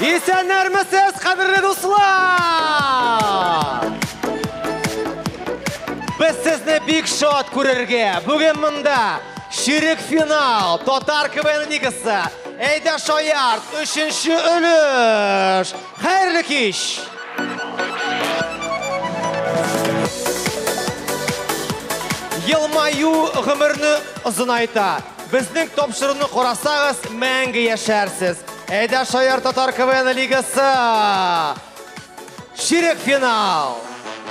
Исәннәрмесез, кадерле дуслар! Без сезне бик шат күрергә. Бүген монда ширек финал, татар КВН лигасы, Әйдә шаярт, өченче өлеш. Хәерле кич! Елмаю гомерне озынайта. Безнең тапшыруны карасагыз, мәңге яшәрсез. Әйдә Шаяр татар КВН лигасы! Ширек финал!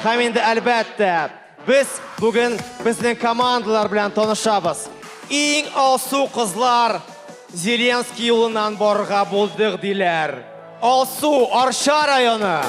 Һәм инде әлбәттә, Без бүген безнең командалар белән танышабыз. Иң алсу кызлар Зеленский юлыннан барырга булдык, диләр. Алсу, Арча районы.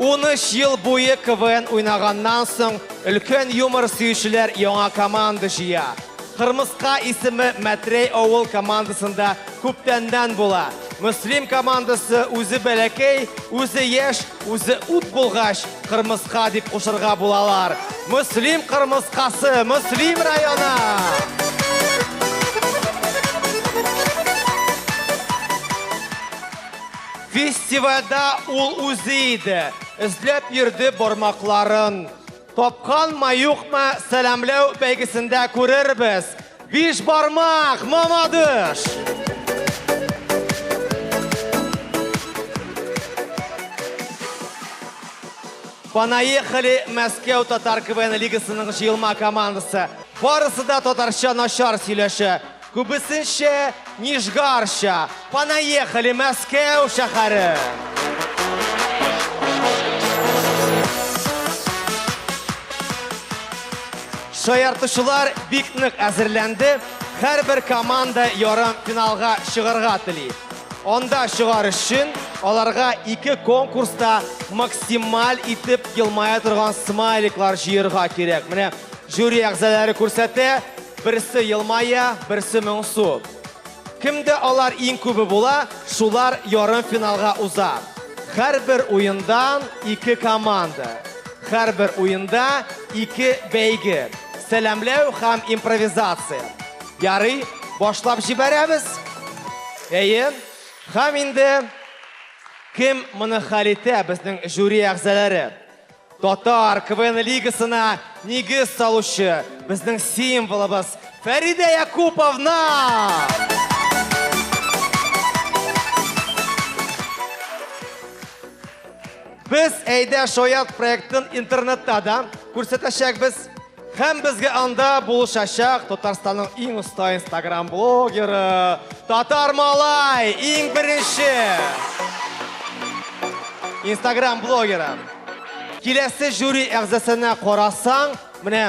Унөч ел буе КВН уйнаганнан соң, өлкән юмор сөючеләр яңа команда җыя. Кырмыска исеме Мәтрәй авыл командасында күптәннән була. Мөслим командасы үзе бәләкәй, үзе яшь, үзе ут булгач, кырмыска дип кушырга булалар. Мөслим кырмыскасы, Мөслим районы! Фестивальда ул үзе иде. Эзләп йөрде бармакларын. Тапканмы-юкмы, сәламләү бәйгесендә күрербез. Биш бармак, мамадыш! Понаехали Мәскәү татар КВН лигасының җыелма командасы. Барысы да татарча начар сөйләшә. Күбесенчә Нижгарча, Понаехали, Мәскәү шәһәре! Шаяртучылар бик нык әзерләнде. Һәрбер команда ярым финалга чыгарга тели. Анда чыгар өчен аларга ике конкурста максималь итеп елмая торган смайликлар җыерга кирәк. Менә жюри әгъзалары күрсәтә. Берсе елмая, берсе моңсу. Кемдә алар иң күбе була, шулар ярымфиналга уза. Һәрбер уендан ике команда. Һәрбер уенда ике бәйге. Сәламләү һәм импровизация. Ярый, башлап җибәрәбез. Әйе. Һәм инде кем моны хәл итә, безнең жюри әгъзалары? Татар КВН лигасына нигез салучы безнең символыбыз Фәридә Якуповна! Без Әйдә шаят проектын интернетта да күрсәтәчәкбез. Һәм безгә анда булышачак Татарстанның иң оста инстаграм блогеры Татар Малай иң беренче инстаграм блогеры. Киләсе жюри әгъзасына карасаң, менә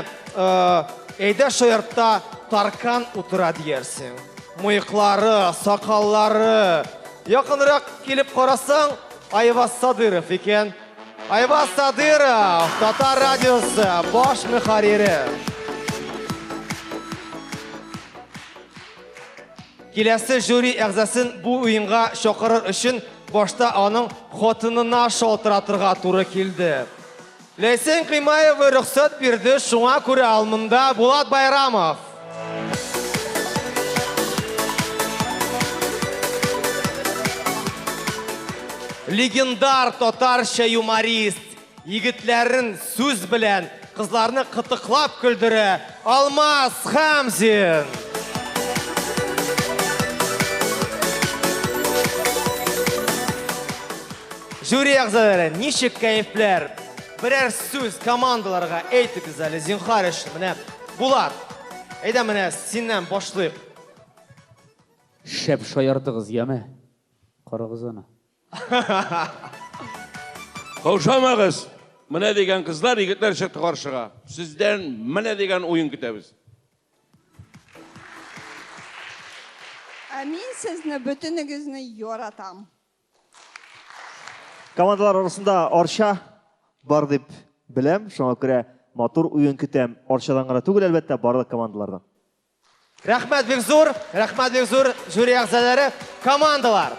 әйдә шаяртта таркан утыра диярсең. Мыеклары, сакаллары. Якынрак килеп карасаң, Айваз Садыров икән. Айваз Садыров, Татар радиосы баш мөхәррире. Киләсе жюри әгъзасын бу уенга чакырыр өчен башта аның хатынына шалтыратырга туры килде. Ләйсән Кыймаева рөхсәт бирде, шуңа күрә Алмында Булат Байрамов. Легендар татарча юморист егетләрен сүз белән, кызларны кытыклап көлдерә Алмаз Хамзин. Жюри әгъзалары, ничек кәефләр? Берәр сүз командаларга әйтегез әле, зинхар өчен. Менә Булат, әйдә менә синнән башлыйк. Шәп шаярдыгыз, яме. Карагыз аны. Каушамагыз. Менә дигән кызлар, егетләр чыкты каршыга. Сездән менә дигән уен көтәбез. Ә мин сезне бөтенегезне яратам. Командалар арасында Арча бар дип беләм, шуңа күрә матур уен көтәм. Арчадан гына түгел, әлбәттә, барлык командалардан. Рәхмәт бик зур, рәхмәт бик зур жюри әгъзалары, командалар.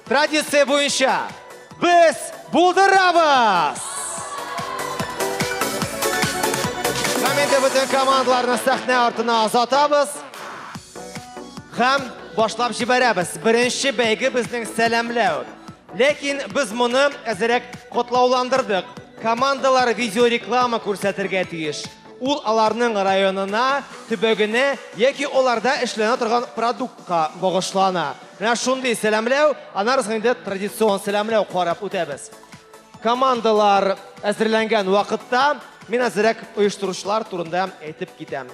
Традиция буенча без булдырабыз! Һәм инде бөтен командаларны сәхнә артына озатабыз. Һәм Башлап җибәрәбез. Беренче бәйге безнең сәламләү. Ләкин без моны әзерәк котлауландырдык. Командалар видеореклама күрсәтергә тиеш. Ул аларның районына, төбәгенә яки аларда эшләнә торган продуктка багышлана. Менә шундый сәламләү, аннары соң инде традицион сәламләү карап үтәбез. Командалар әзерләнгән вакытта мин әзерәк оештыручылар турында әйтеп китәм.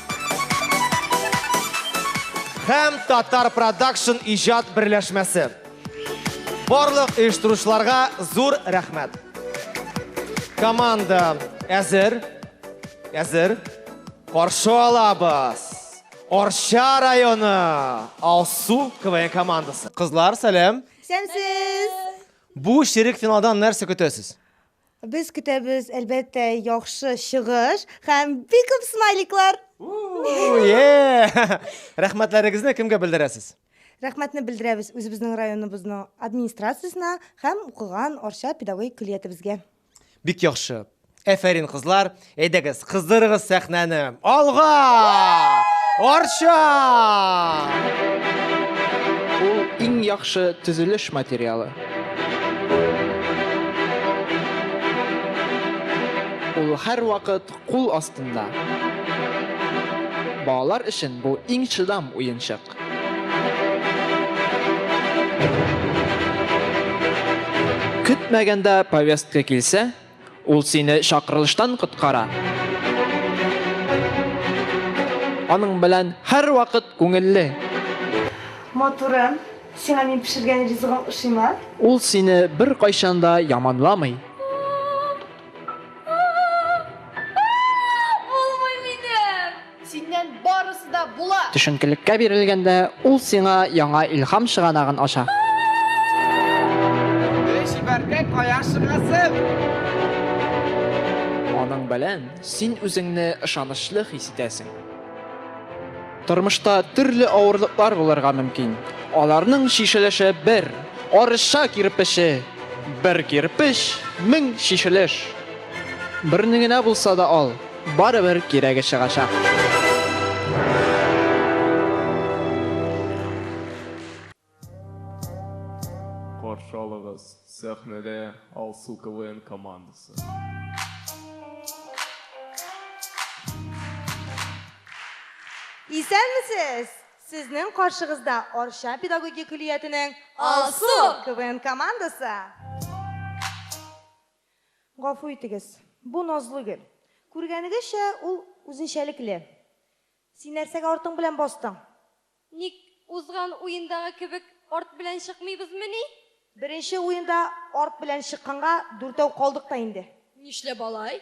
Һәм Татар Продакшн иҗат берләшмәсе. Барлык оештыручыларга зур рәхмәт. Команда әзер. Әзер. Каршы алабыз. Орча районы Алсу КВН командасы. Кызлар, сәлам. Сәмсез! Бу ширек финалдан нәрсә көтәсез? Без көтәбез, әлбәттә, яхшы чыгыш һәм бик күп смайликлар. Рәхмәтләрегезне кемгә белдерәсез? Рәхмәтне белдерәбез үзебезнең районыбызның администрациясенә һәм укыган Арча педагогик көллиятебезгә. Бик яхшы. Әфәрин, кызлар. Әйдәгез, кыздырыгыз сәхнәне. Алга! Арча! Ул иң яхшы төзелеш материалы. Ул һәрвакыт кул астында. Балалар өчен бу иң чыдам уенчык. Көтмәгәндә повестка килсә, Ул сине чакырылыштан коткара. Аның белән һәрвакыт күңелле. Матурым, сиңа мин пешергән ризыгым ошыймы? Ул сине беркайчан да яманламый. Синнән барысы да була! Төшенкелеккә бирелгәндә, ул сиңа яңа илһам чыганагын ача. Эй, чибәркәй, кая чыгасың? Аның белән син үзеңне ышанычлы хис итәсең. Тормышта төрле авырлыклар булырга мөмкин. Аларның чишелеше бер арча кирпече, бер кирпеч, мең чишелеш. Берне генә булса да ал. Барыбер кирәге чыгачак. Каршы алыгыз, сәхнәдә Алсу КВН командасы. Исәнмесез! Сезнең каршыгызда Арча педагогия көллиятенең Алсу КВН командасы. Гафу итегез, бу назлы гөл. Күргәнегезчә, ул үзенчәлекле. Син нәрсәгә артың белән бастың? Ник, узган уендагы кебек арт белән чыкмыйбызмыни? Беренче уенда арт белән чыкканга дүртәү калдык та инде. Нишләп алай?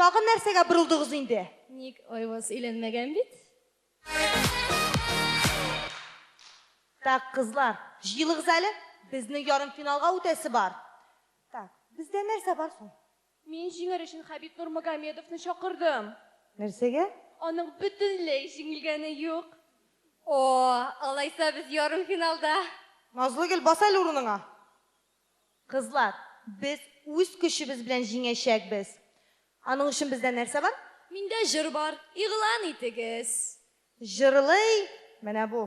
Тагын нәрсәгә борылдыгыз инде? Ник Айваз өйләнмәгән бит? Так, кызлар, җыелыгыз әле, безнең ярымфиналга үтәсе бар. Так, бездә нәрсә бар соң? Мин җиңәр өчен Хәбиб Нурмагомедовны чакырдым. Нәрсәгә? Аның бөтенләй җиңелгәне юк. О, алайса без ярымфиналда. Назлыгөл, бас әле урыныңа! Кызлар, без үз көчебез белән җиңәчәкбез. Аның өчен бездә нәрсә бар? Миндә җыр бар, игълан итегез. Җырлый менә бу.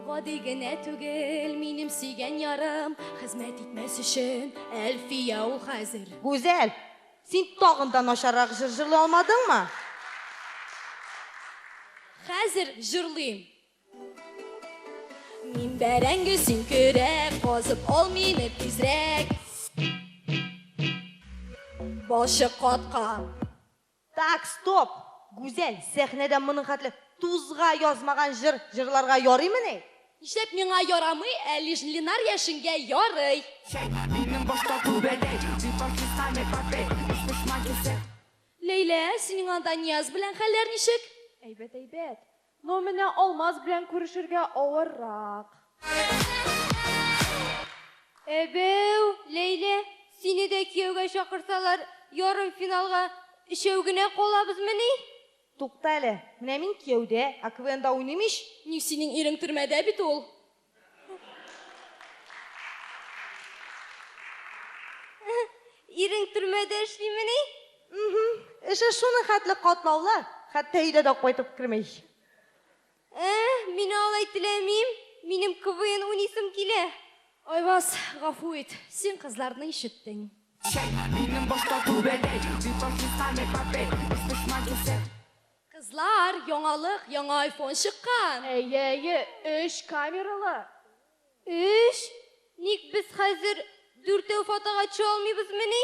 Гади генә түгел, минем сөйгән ярым, Хезмәт итмәс өчен Әлфия ул хәзер. Гүзәл, син тагын да начаррак җыр җырлый алмадыңмы? Хәзер җырлыйм. Мин бәрәңге, син көрәк, Казып ал мине тизрәк. Балчык каткан. Так, стоп! Гүзәл, сәхнәдә моның хәтле тузга язмаган җыр җырларга ярыймыни? Нишләп миңа ярамый, ә Лижн Ленар яшенгә ярый? Чәй, минем башта түбәдәй. Дип артистка не попей, уж пошла кисәк. Ләйлә, синең анда Нияз белән хәлләр ничек? Әйбәт, әйбәт. Ну менә Алмаз белән күрешергә авыррак. Әбәү, Ләйлә, сине дә кияүгә чакырсалар, ярымфиналга өчәү генә калабызмыни? Тукта әле, менә мин кияүдә, ә КВНда уйныйм ич! Ни, синең ирең төрмәдә бит ул. Ирең төрмәдә эшлимени? Мхм. Эше шуның хәтле катлаулы, хәтта өйдә дә кайтып керми. Ә, мин алай теләмим. Минем КВН уйныйсым килә. Айваз, гафу ит, син кызларны ишеттең. Чәй, минем башта түбәдәй, битафиска не попей, исписьма кисәк. Кызлар, яңалык, яңа айфон чыккан! Әйе, әйе, өч камералы! Өч? Ник без хәзер дүртәү фотога төшә алмыйбызмыни?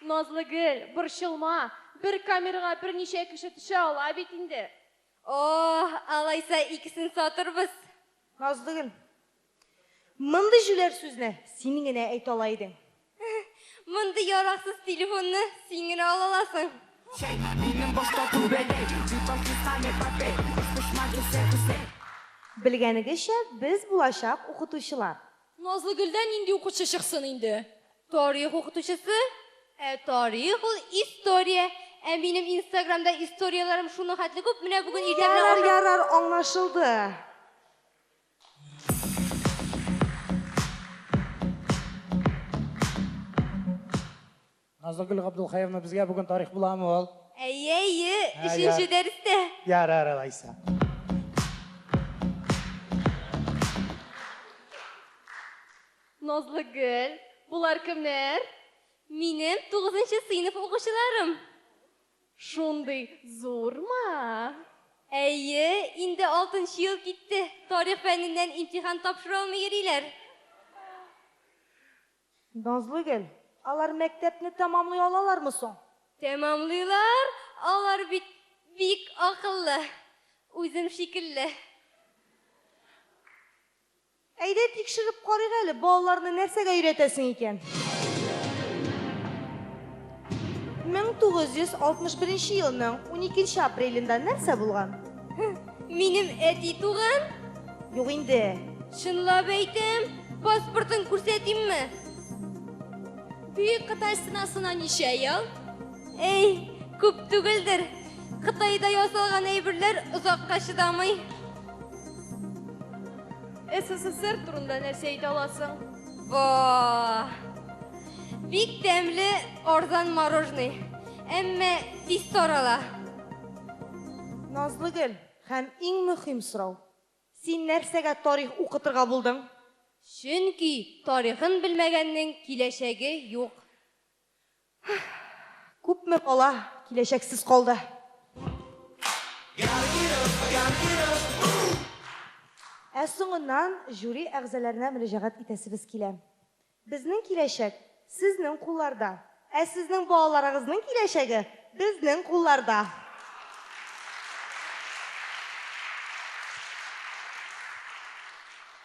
Назлыгөл, борчылма, бер камерага берничә кеше төшә ала бит инде. О, алайса икесен сатырбыз. Назлыгөл, Мондый җүләр сүзне син генә әйтә ала идең. Мондый яраксыз телефонны син генә ала аласың. Белгәнегезчә, без булачак укытучылар. Назлыгөлдән нинди укучы чыксын инде? Тарих укытучысы? Ә тарих ул история. Ә минем инстаграмда историяләрем шуның хәтле күп, менә бүген иртә белән Ярар, ярар, аңлашылды. Назлыгөл Габдулхаевна безгә бүген тарих буламы ул? Әйе, әйе, өченче дәрестә. Ярар, алайса. Назлыгөл, булар кемнәр? Минем 9 сыйныф укучыларым. Шундый зурмы? Әйе, инде алтынчы ел китте, тарих фәненнән имтихан тапшыра алмый йөриләр. Назлыгөл, алар мәктәпне тәмамлый алалармы соң? Тәмамлыйлар, алар бит бик акыллы, үзем шикелле. Әйдә тикшереп карыйк әле, балаларны нәрсәгә өйрәтәсең икән? 1961 елның 12 апрелендә нәрсә булган? Минем әти туган? Юк инде. Чынлап әйтәм, паспортын күрсәтимме? Бөек Кытай стенасына ничә ел? Әй, күп түгелдер. Кытайда ясалган әйберләр озакка чыдамый. СССР турында нәрсә әйтә аласың? Во! Бик тәмле арзан мороженый. Әмма тиз тарала. Назлыгөл, һәм иң мөһим сорау. Син нәрсәгә тарих укытырга булдың? Чөнки тарихын белмәгәннең киләчәге юк. Күпме кала, киләчәксез калды. Ә соңыннан жюри әгъзаләренә мөрәҗәгать итәсебез килә. Безнең киләчәк, сезнең кулларда. Ә сезнең балаларыгызның киләчәге, безнең кулларда.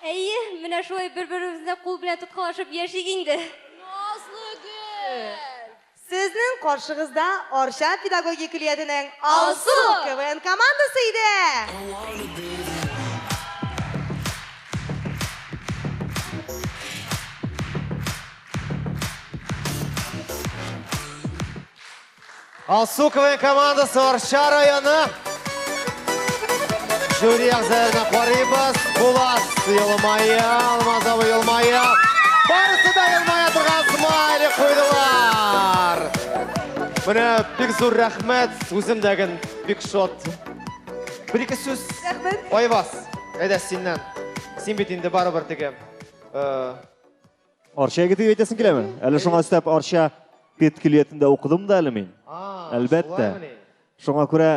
Әйе, менә шулай бер-беребезне кул белән тоткалашып яшик инде. Назлыгөл! Сезнең каршыгызда Арча педагогия көллиятенең Алсу КВН командасы иде! Алсу КВН командасы Арча районы. Жюри әгъзаларына карыйбыз. Булат елмая, Алмаз абый елмая. Барысы да елмая торган смайлик куйдылар. Менә бик зур рәхмәт. Үзем дә гын бик шат. Бер ике сүз. Рәхмәт. Айваз, әйдә синнән. Син бит инде барыбер теге э, Арча егете дип әйтәсең киләме? Әле шуңа өстәп Арча пет көллиятендә укыдым да әле мин. Әлбәттә. Шуңа күрә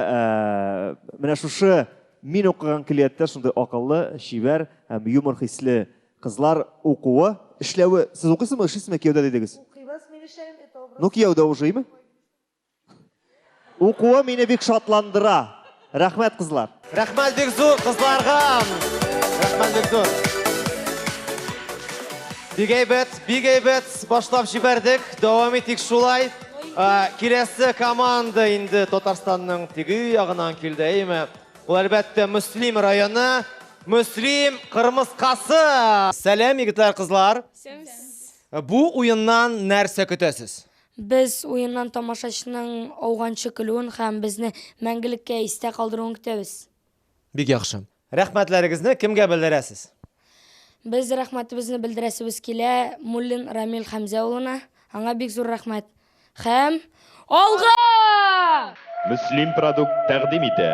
менә шушы мин укыган көллияттә шундый акыллы, чибәр һәм юмор хисле кызлар укуы, эшләве. Сез укыйсызмы, эшлисезме кияүдә дидегез? Укыйбыз, мин эшләгән бит авыл. Ну кияүдә ушыймы? Укуы мине бик шатландыра. Рәхмәт, кызлар. Рәхмәт бик зур кызларга. Рәхмәт бик зур. Бик әйбәт, бик әйбәт башлап җибәрдек. Дәвам итик шулай. Ә, Киләсе команда инде Татарстанның теге ягынан килде, әйме? Ул әлбәттә Мөслим районы, Мөслим Кырмыскасы. Сәлам, егетләр, кызлар. Бу уеннан нәрсә көтәсез? Без уеннан тамашачының ауганчы көлүен һәм безне мәңгелеккә истә калдыруын көтәбез. Бик яхшы. Рәхмәтләрегезне кемгә белдерәсез? Без рәхмәтебезне белдерәсебез килә Муллин Рамил Хәмзә улына. Аңа бик зур рәхмәт. Һәм алга! Мөслим продукт тәкъдим итә.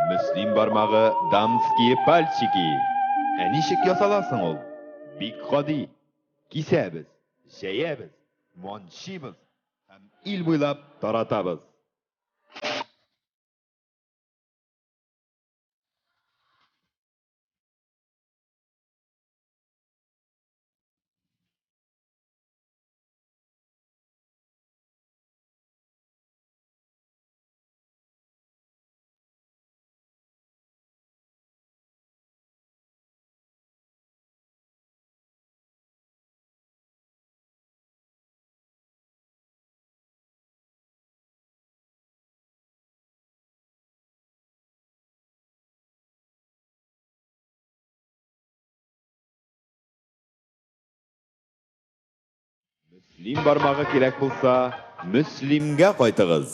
Мөслим бармагы, дамские пальчики! Ә ничек ясала соң ул? Бик гади. Кисәбез. Җәябез. Манчибыз һәм ил буйлап таратабыз. Мөслим бармагы кирәк булса, Мөслимгә кайтыгыз.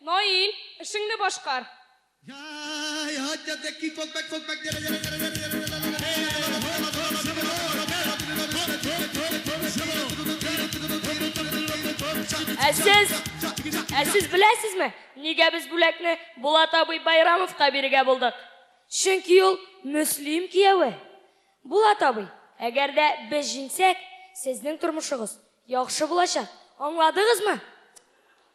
Наил, эшеңне башкар! Ә сез, ә сез беләсезме, нигә без бүләкне Булат абый Байрамовка бирергә булдык? Чөнки ул Мөслим кияве. Булат абый, әгәр дә без җиңсәк, сезнең тормышыгыз яхшы булачак, аңладыгызмы?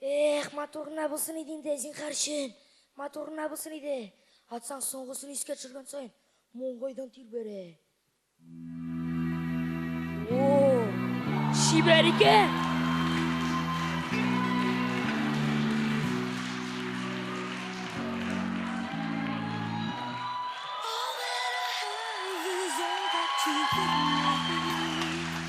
Эх, матур гына булсын иде инде, зинхар өчен. Матур гына булсын иде. Атсаң, соңгысын искә төшергән саен, маңгайдан тир бәрә. О, чибәр икән!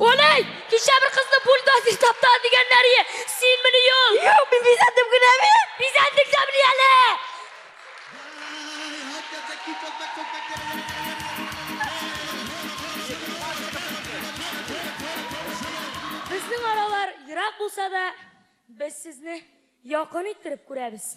Олай, кичә бер кызны бульдозер тапта дигәннәр ие. Син мени ул? Юк, мин бизәндем генә мин. Бизәндек дә мени әле. Безнең аралар ерак булса да, без сезне якын иттереп күрәбез.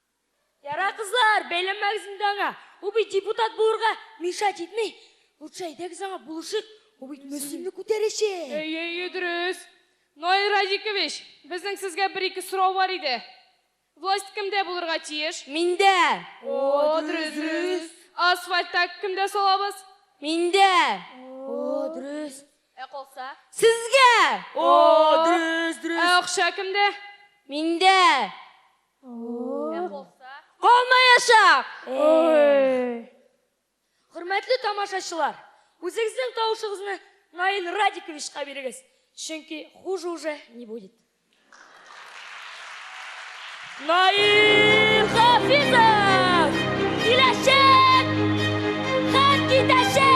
Ярар кызлар, бәйләнмәгез инде аңа. Ул бит депутат булырга мешать итми. Лучше әйдәгез аңа булышыйк, ул бит Мөслимне күтәрәчәк. Әйе, әйе, дөрес. Наил Радикович, безнең сезгә бер-ике сорау бар иде. Власть кемдә булырга тиеш? Миндә. О, дөрес, дөрес. Ә асфальт та кемдә салабыз? Миндә. О, дөрес. Ә калса? Сезгә. О, дөрес, дөрес. Ә акча кемдә? Миндә. Калмаячак! Хөрмәтле тамашачылар, үзегезнең тавышыгызны Наил Радиковичка бирегез, чөнки хуже уже не будет. Наил Хафизов! Киләчәк! Һәм китәчәк!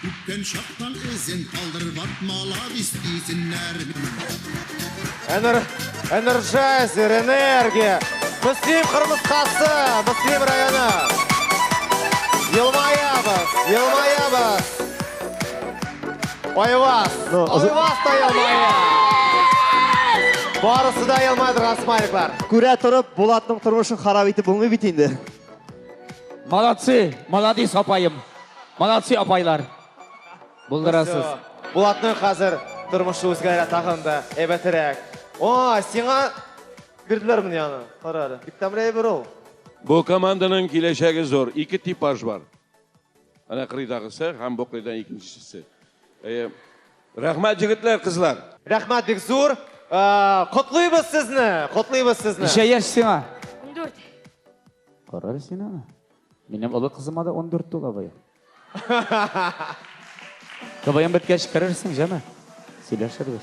Үткән чактан эзен калдырып атмала бис дисеннәр. Энер... Энерджайзер, энергия! Мөслим Кырмыскасы, Мөслим районы! Елмаябыз, елмаябыз! Айвас, Айвас та елмая! Барысы да елмайдырған смайликлар. Күрә торып, Булатның тормышын харап итеп булмый бит инде. Молодцы, молодец апаем. Молодцы апайлар. Булдырасыз. Булатның хәзер тормышы үзгәрә тагын да әйбәтерәк. О, сиңа бирделәр менә аны. Кара әле. Бик тәмле әйбер ул. Бу команданың киләчәге зур. Ике типаж бар. Ана кырыйдагысы һәм бу кырыйдан икенчесе. Э, Рәхмәт җегетләр, кызлар. Рәхмәт бик зур. Котлыйбыз сезне, котлыйбыз сезне. Ничә яшь сиңа? 14. Карар син аны. Минем олы кызыма да 14 тула бая. КВМ беткәч керерсең, җәме. Сөйләшербез.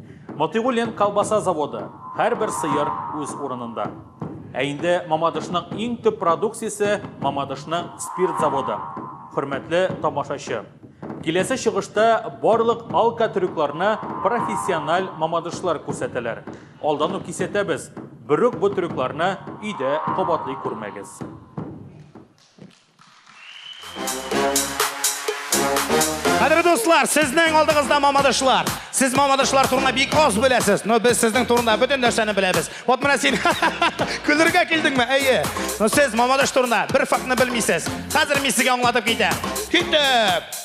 Мотыйгуллин колбаса заводы, һәрбер сыер үз урынында. Ә инде Мамадышның иң төп продукциясе, Мамадышның спирт заводы. Хөрмәтле тамашачы! Киләсе чыгышта барлык алкотрюкларны профессиональ мамадышлар күрсәтәләр. Алдан ук кисәтәбез, берүк бу трюкларны өйдә кабатлый күрмәгез. Хәдер дуслар, сезнең алдыгызда мамадышлар. Сез мамадышлар турында бик аз беләсез, но без сезнең турында бөтен нәрсәне беләбез. Вот менә син көлергә килдеңме? Әйе. Но сез мамадыш турында бер фактны белмисез. Хәзер мин сезгә аңлатып китәм. Китеп!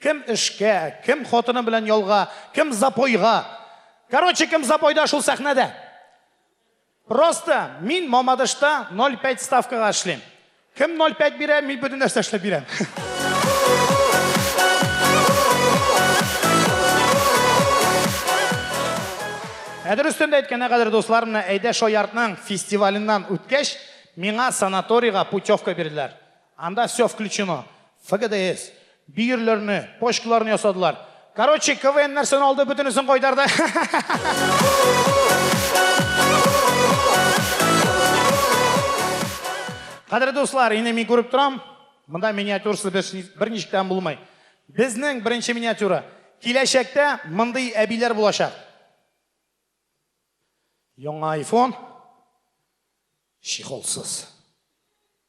Кем эшкә, кем хатыны белән ялга, кем запойга. Короче, кем запойда, шул сәхнәдә. Просто мин Мамадышта 0,5 ставкага эшлим. Кем 0,5 бирә, мин бөтен нәрсә эшләп бирәм. Ә дөрестән дә әйткәндә, кадер дуслар, менә Әйдә шаяртның фестиваленнан үткәч, миңа санаторийга путевка бирделәр. Анда все включено. ФГДС, бөерләрне, почкаларны ясадылар. Короче, КВН нәрсәне алды, бөтенесен кайтарды. Кадерле дуслар, инде мин күреп торам, монда миниатюрасы берничек тә булмый. Безнең беренче миниатюра. Киләчәктә мондый әбиләр булачак. Яңа iPhone чехолсыз.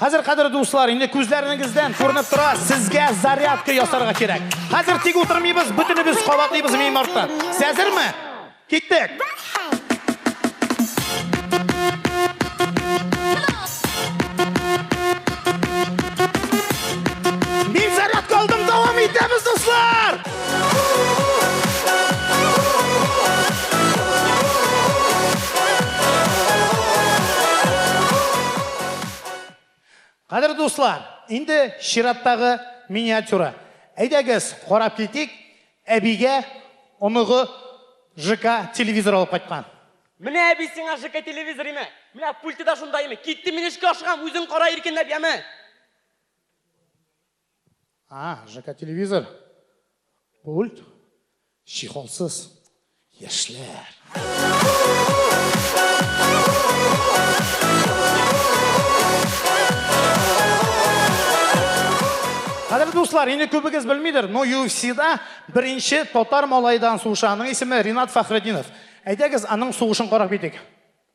Хәзер, кадерле дуслар, инде күзләренегездән күренеп тора, сезгә зарядка ясарга кирәк. Хәзер тик утырмыйбыз, бөтенебез кабатлыйбыз мин артта. Сез әзерме? Киттек! Мин зарядка алдым, дәвам итәбез, дуслар! Кадерле дуслар, инде чираттагы миниатюра. Әйдәгез, карап китик, әбигә оныгы ЖК телевизор алып кайткан. Менә әби сиңа ЖК телевизор име? Менә пульты да шунда име? Киттем мин эшкә ашыгам, үзең кара иркенләп, яме! А, ЖК телевизор. Пульт. Чехолсыз. Яшьләр. Кадерле дуслар, инде күбегез белмидер, но UFC-да беренче татар малайдан сугышаның исеме Ринат Фәхреддинов. Әйдәгез, аның сугышын карап китик.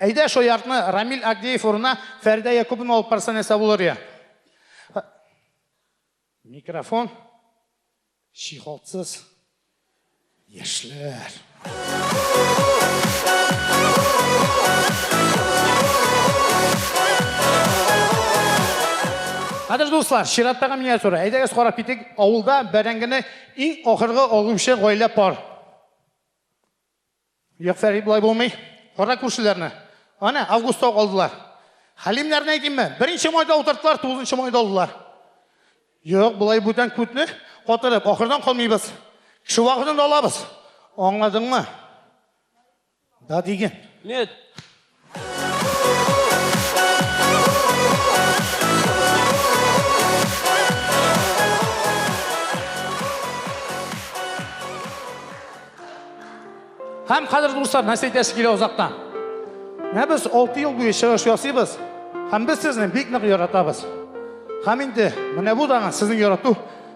Әйдә шо яртны Рамил Агдеев урынына Фәридә Якубовна алып барса нәрсә булыр я? Микрофон чиһалтсыз яшьләр. Кадер дуслар, чираттагы миниатюра. Әйдәгез карап китик, авылда бәрәңгене иң ахыргы алучы гаилә пар. Юкса бит болай булмый. Кара күршеләрне. Ана, августта ук алдылар. Хәлимнәрне әйтимме? Беренче майда утырттылар, тугызынчы майда алдылар. Юк, болай бүтән күтне катырып, ахырдан калмыйбыз. Кеше вакытын да алабыз. Аңладыңмы? Да диген. Нет. Һәм хәзер дуслар, нәрсә әйтәсе килә озактан. Менә без 6 ел буе чыгыш ясыйбыз, һәм без сезне бик нык яратабыз. Һәм инде менә бу дагы сезнең ярату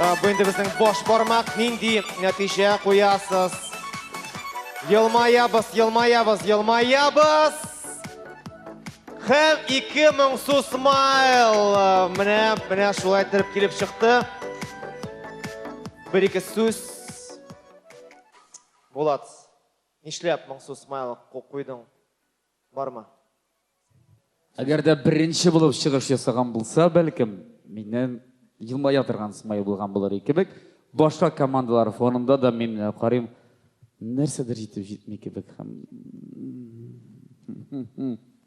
Э, бу инде безнең баш бармак. Нинди нәтиҗә куясыз? Елмаябыз, елмаябыз, елмаябыз. Һәм 2000 су смайл. Менә, менә шулай итеп килеп чыкты. Бер-ике сүз. Булат, нишләп моңсу смайл куйдың? Бармы? Әгәр дә беренче булып чыгыш ясаган булса, бәлкем, миннән елмая торган смайл булган булыр и кебек. Башка командалар фонында да мин э, карыйм, нәрсәдер җитеп җитми кебек һәм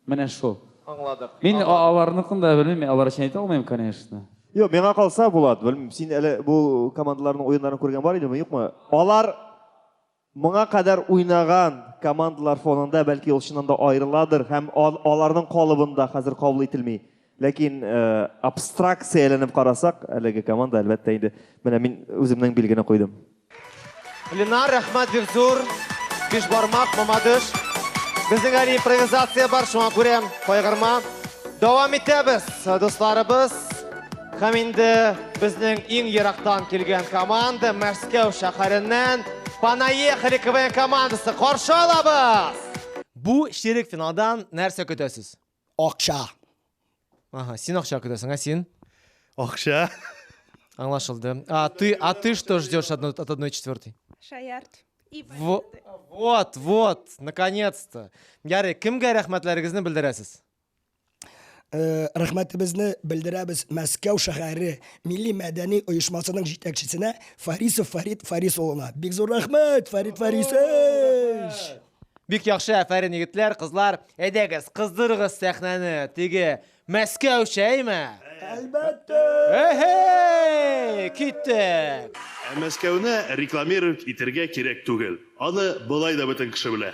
менә шул. Аңладык. Мин аларныкын да белмим, алар өчен әйтә алмыйм, конечно. Юк, миңа калса, Булат, белмим, син әле бу командаларның уеннарын күргән бар идеме, юкмы? Алар Моңа кадәр уйнаган командалар фонында, бәлки ул чыннан да аерыладыр һәм аларның калыбында хәзер кабул ителми. Ләкин абстракция әйләнеп карасак, әлеге команда әлбәттә инде менә мин үземнең билгене куйдым. Ленар, рәхмәт бик зур. Бишбармак, Мамадыш. Безнең әле импровизация бар, шуңа күрә кайгырма. Дәвам итәбез, дусларыбыз. Һәм инде безнең иң ерактан килгән команда Мәскәү шәһәреннән Понаехали КВН командасы каршы алабыз! Бу ширек финалдан нәрсә көтәсез? Акча. Ага, син акча көтәсең, ә син? Акча. Аңлашылды. А ты, а ты что ждешь от одной четвертой? Шаярт. Вот, вот, наконец-то. Ярый, кемгә рәхмәтләрегезне белдерәсез? Э, рәхмәтебезне белдерәбез Мәскәү шәһәре милли мәдәни оешмасының җитәкчесенә Фарисов Фарид Фарис улына. Бик зур рәхмәт, Фарид Фарисович! Бик яхшы, әфәрин егетләр, кызлар. Әйдәгез, кыздырыгыз сәхнәне. Теге Мәскәү чәйме? Әлбәттә! Эһей! Киттек! Ә Мәскәүне рекламировать итергә кирәк түгел. Аны болай да бөтен кеше белә.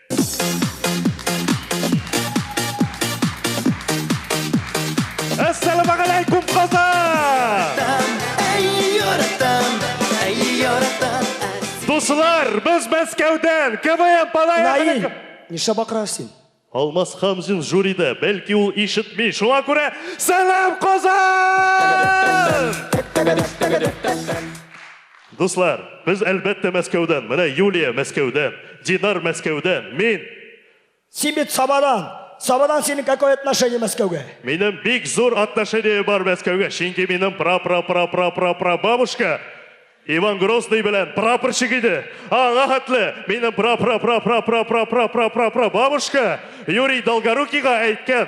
Дуслар, без Мәскәүдән КВМ Палаев. Нишләп акырасыз син? Алмаз Хамзин жюрида, бәлки ул ишетми. Шуңа күрә сәлам Казан! Дуслар, без әлбәттә Мәскәүдән, менә Юлия Мәскәүдән, Динар Мәскәүдән, мин. Син бит Сабадан, Сабадан синең какое отношение Мәскәүгә? Минем бик зур отношение бар Мәскәүгә, чөнки минем пра-пра-пра-пра-пра-пра-бабушка Иван Грозный белән прапорщик иде, аңа хәтле минем пра-пра-пра-пра-пра-пра-пра-пра-пра-пра-бабушка Юрий Долгорукийга әйткән,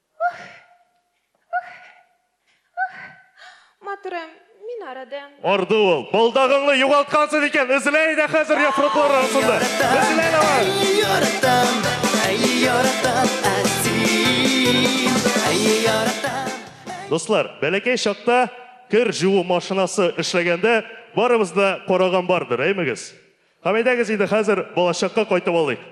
Матурым, мин арыдым. Арды ул. Балдагыңны югалткансыз икән, эзлә иде хәзер яфраклар арасында. Эзлә давай. Яратам, әй яратам, әсин, әй яратам. Дуслар, бәләкәй чакта кер жуу машинасы эшләгәндә барыбыз да караган бардыр, әймегез? Һәм әйдәгез инде хәзер балачакка кайтып алыйк.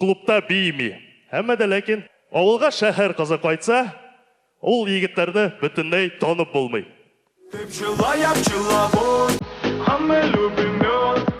Клубта биими. Әмма дә ләкин авылга шәһәр кызы кайтса, ул егетләрне бөтенләй танып булмый. Ты пчела, я пчеловод, а мы любим мед.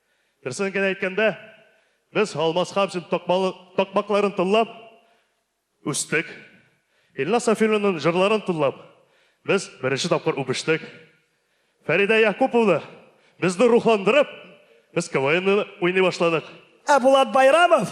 Дөресен генә әйткәндә, без Алмаз Хәмзин такмакларын тыңлап үстек. Илназ Сафиуллинның җырларын тыңлап, без беренче тапкыр үбештек. Фәридә Якуповна безне рухландырып, без КВНны уйный башладык. Ә Булат Байрамов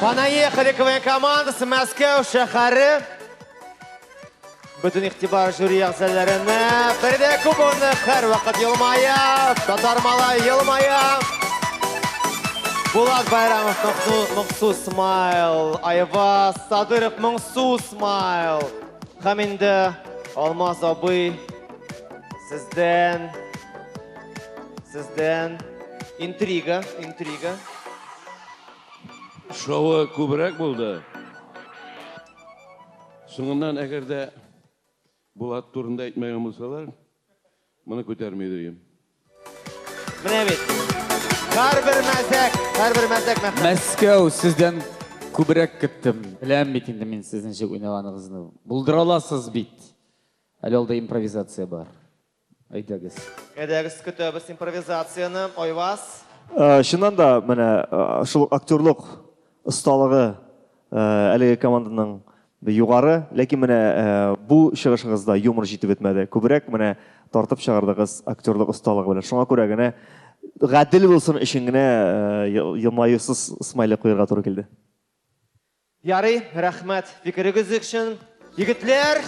Понаехали КВН командасы Мәскәү шәһәре. Бүтін иқтибар жюри әгзәләренә. Бердә кубоны һәр вакыт елмая, татар малай елмая. Булат Байрамов Моңсу смайл, Айваз Садыров Моңсу смайл. Һәм инде Алмаз абый сездән сездән интрига, интрига. Шоуы күбрәк булды. Соңыннан әгәр дә Булат турында әйтмәгән булсалар, моны күтәрми идем. Менә бит. Һәрбер мәзәк, һәрбер мәзәк мәхәббәт. Мәскәү сездән күбрәк көттем. Беләм бит инде мин сезнең ничек уйнаганыгызны. Булдыра аласыз бит. Әле алда импровизация бар. Әйдәгез. Әйдәгез, көтәбез импровизацияне. Айваз. Чыннан да, менә шул ук актерлык осталыгы әлеге команданың югары, ләкин менә бу чыгышыгызда юмор җитеп бетмәде. Күбрәк менә тартып чыгардыгыз актерлык осталыгы белән. Шуңа күрә генә, гадел булсын өчен генә елмаюсыз смайлик куярга туры килде. Ярый, рәхмәт фикерегез өчен. Егетләр,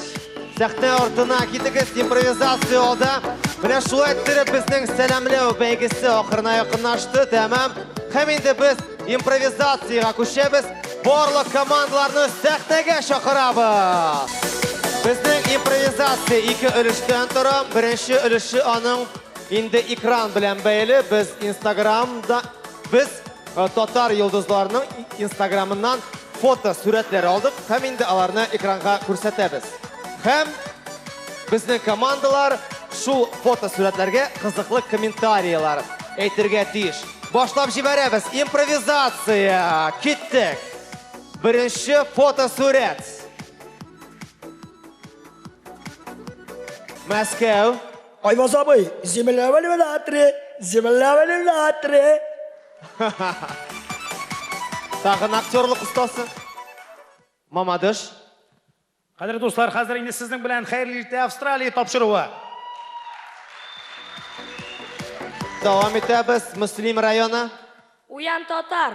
сәхнә артына китегез, импровизация алда. Менә шулай иттереп безнең сәламләү бәйгесе ахырына якынлашты, тәмам. Һәм инде без импровизациягә күчәбез. Барлык командаларны сәхнәгә чакырабыз. Безнең импровизация ике өлештән тора. Беренче өлеше аның инде экран белән бәйле. Без Инстаграмда Без э, татар йолдызларының инстаграмыннан фото сурәтләр алдык һәм инде аларны экранга күрсәтәбез. Һәм безнең командалар шул фото сурәтләргә кызыклы комментарияләр әйтергә тиеш. Башлап җибәрәбез. Импровизация. Киттек. Беренче фото сурәт. Мәскәү. Айваз абый, земля валиватре, земля валиватре. Тагын актерлык остасы. Мамадыш. Кадерле дуслар, хәзер инде сезнең белән хәерле иртә Австралия тапшыруы. Дәвам итәбез. Мөслим районы. Уян татар.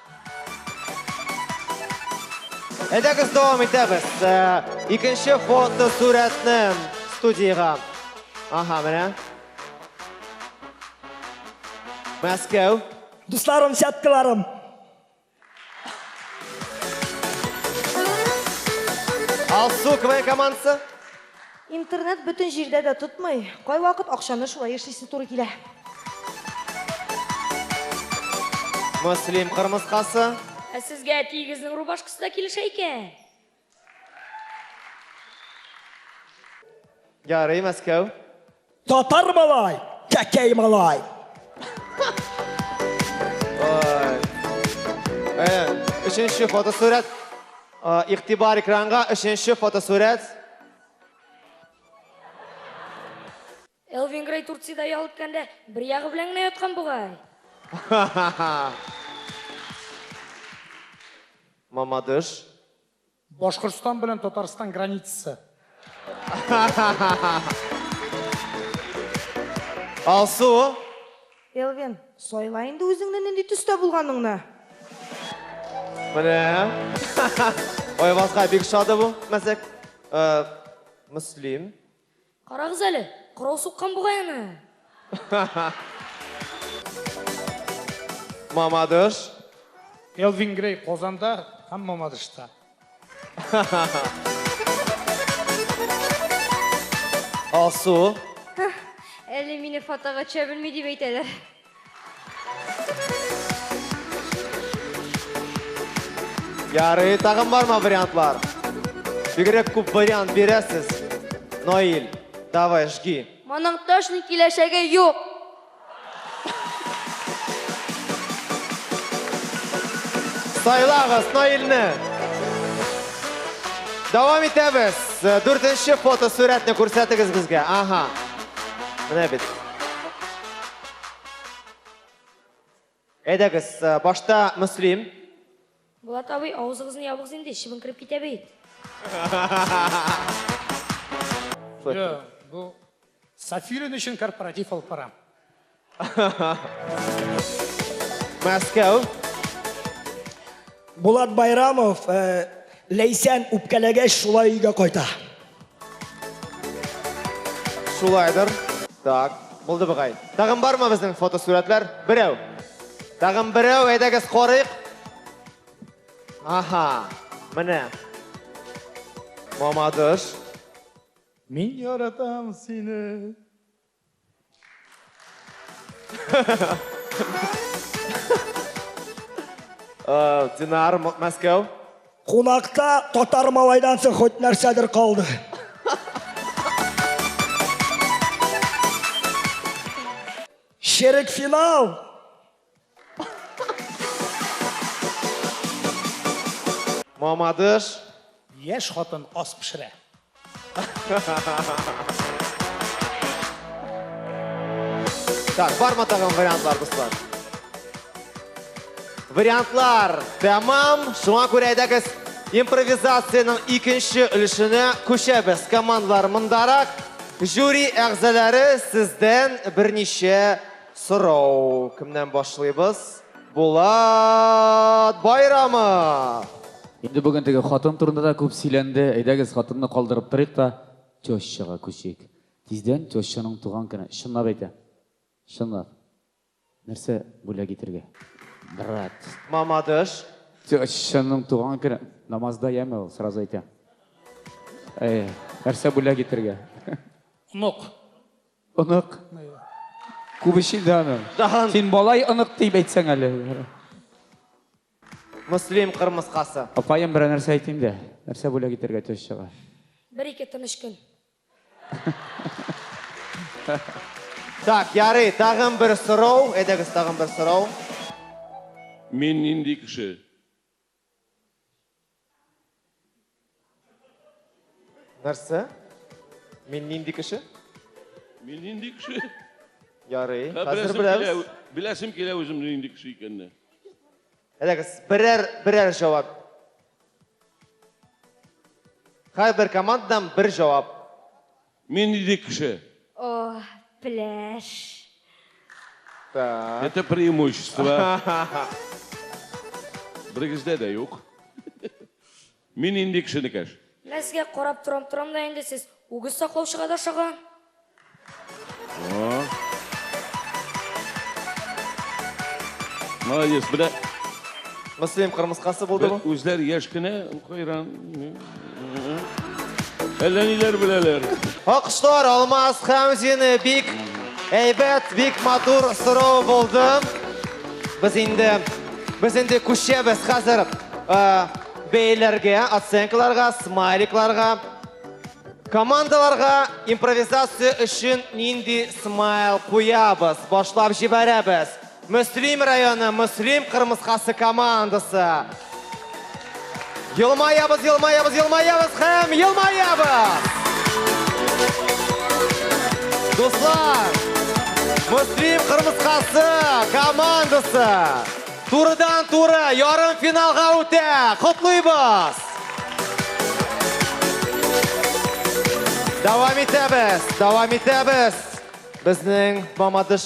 Әйдәгез дәвам итәбез. Э, икенче фото сурәтне студиягә. Ага, менә. Мәскәү. Дусларым, сяткаларым. Алсу КВН командасы. Интернет бөтен җирдә дә тотмый, кайвакыт акчаны шулай эшлисе туры килә. Мөслим кырмыскасы. Ә сезгә әтиегезнең рубашкасы да килешә икән. Ярый, Мәскәү. Татар малай, кәкәй малай. Өченче фотосурәт. Игътибар экранга, өченче фотосурәт. Элвин Грей Турцияда ял иткәндә бер ягы белән генә яткан бугай. Мамадыш. Башкортстан белән Татарстан границасы. Алсу. Элвин, сайла инде үзеңне нинди төстә булганыңны. Менә. Айвазга бик шады бу мәзәк. Э, Мөслим. Карагыз әле, корал суккан бугай аны. Мамадыш. Элвин Грей Казанда һәм Мамадышта. Алсу. Әле мине фотога төшә белми дип әйтәләр. Ярый, тагын барма вариантлар? Бигрәк күп вариант бирәсез. Наил, давай, жги. Моның точно киләчәге юк. Сайлагыз Наилне. Дәвам итәбез. Э, Дүртенче фотосурәтне күрсәтегез безгә. Ага. Менә бит. Әйдәгез, э, башта Мөслим. Булат абый, авызыгызны ябыгыз инде, чыбын кереп китә бит. Йо, бу Сафирин өчен корпоратив алып барам. Мәскәү. Булат Байрамов, э, Ләйсән үпкәләгәч шулай өйгә кайта. Шулайдыр. Так, булды бугай. Тагын бармы безнең фотосурәтләр? Берәү. Тагын берәү, әйдәгез карыйк. Аха, менә. Мамадыш. Мин яратам сине. Э, Динар, Мәскәү. Кунакта татар малайдан соң хоть нәрсәдер калды. Шерек финал. Мамадыш. Яшь хатын ас пешерә. Так, барма тагын вариантлар, дуслар? Вариантлар тәмам. Шуңа күрә әйдәгез импровизациянең икенче өлешенә күчәбез. Командалар мондарак. Жюри әгъзалары сездән берничә Сорау, кемнән башлыйбыз? Булат Байрамов! Инде бүген теге хатын турында да күп сөйләнде. Әйдәгез, хатынны калдырып торыйк та, тещага күчик. Тиздән тещаның туган көне. Чынлап әйтәм. Чынлап. Нәрсә бүләк итергә? Брат. Мамадыш. Тещаның туган көне. Намазда яме ул, сразу әйтәм. Әй, нәрсә бүләк итергә? Онык. Онык. Күп эш инде аның. Даһан. Син балай онык дип әйтсәң әле. Мөслим кырмыскасы. Апаем берәр нәрсә әйтим дә. Нәрсә бүләк итәргә төс чыга? Бер-ике тыныч көн. Так, ярый, тагын бер сорау. Әйдәгез, тагын бер сорау. Мин нинди кеше? Нәрсә? Мин нинди кеше? Мин нинди кеше? Ярый. Хәзер беләбез. Беләсем килә үзем нинди кеше икәнне. Әйдәгез, берәр берәр җавап. Һәрбер командадан бер җавап. Мин нинди кеше? О, пеләш. Так. Это преимущество. Берегездә дә юк. Мин нинди кеше, Никәш? Мә сезгә карап торам, торам да инде сез үгез саклаучыга да ошаган. Молодец, белә. Мөслим кырмыскасы булды бу. Үзләр яшь кенә, кайран. Әллә ниләр беләләр. Алкышлар Алмаз Хәмзины бик әйбәт, бик матур сорау булды. Без инде без инде күчәбез хәзер бәяләргә, оценкаларга, смайликларга. Командаларга импровизация өчен нинди смайл куябыз? Башлап җибәрәбез. Мөслим районы Мөслим кырмыскасы командасы. Елмаябыз, елмаябыз, елмаябыз һәм елмаябыз! Дуслар, Мөслим кырмыскасы командасы турыдан туры ярым финалга үтә. Котлыйбыз! Дәвам итәбез, дәвам итәбез. Безнең Мамадыш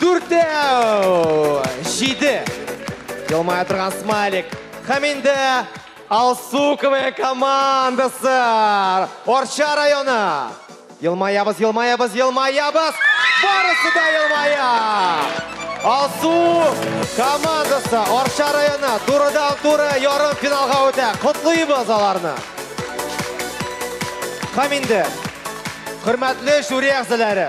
Дүртәү! Җиде! Елмая торган смайлик. Һәм инде Алсуковая командасы! Орча районы! Елмаябыз, елмаябыз, елмаябыз! Барысы да елмая! Алсу командасы Орча районы турыдан туры ярым финалга үтә. Котлыйбыз аларны. Һәм инде хөрмәтле жюри әгъзалары,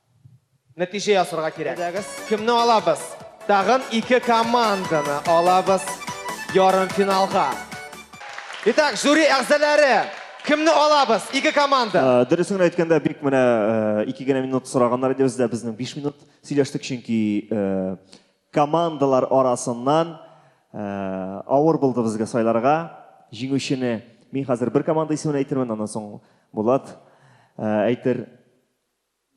Нәтиҗә ясарга кирәк. Әйдәгез. Кемне алабыз? Тагын ике команданы алабыз ярымфиналга. Итак, жюри әгъзалары, кемне алабыз? Ике команда. Э, дөресен генә әйткәндә, бик менә э, ике генә минут сораганнар иде бездә, безнең биш минут сөйләштек, чөнки э, командалар арасыннан авыр булды безгә сайларга. Җиңүчене мин хәзер бер команда исемен әйтермен, аннан соң Булат әйтер.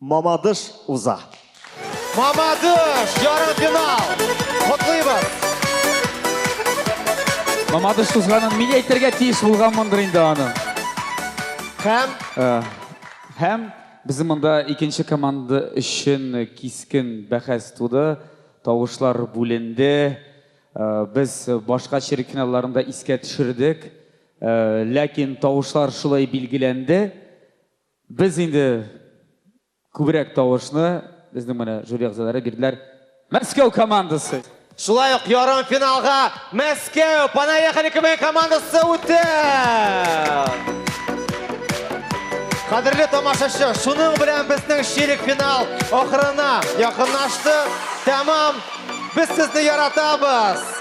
Мамадыш уза. Мамадыш, ярымфинал! Котлыйбыз! Мамадыш узганын мин әйтергә тиеш булганмындыр инде аны. Һәм? Һәм безнең монда икенче команда өчен кискен бәхәс туды, тавышлар бүленде. Без башка черекфиналларын да искә төшердек. Ләкин тавышлар шулай билгеләнде. Без инде күбрәк тавышны безнең менә жюри әгъзалары бирделәр. Мәскәү командасы! Шулай ук ярымфиналга Мәскәү, Понаехали КВН командасы үтте! Кадерле тамашачы, шуның белән безнең чирек финал ахырына якынлашты. Тәмам! Без сезне яратабыз!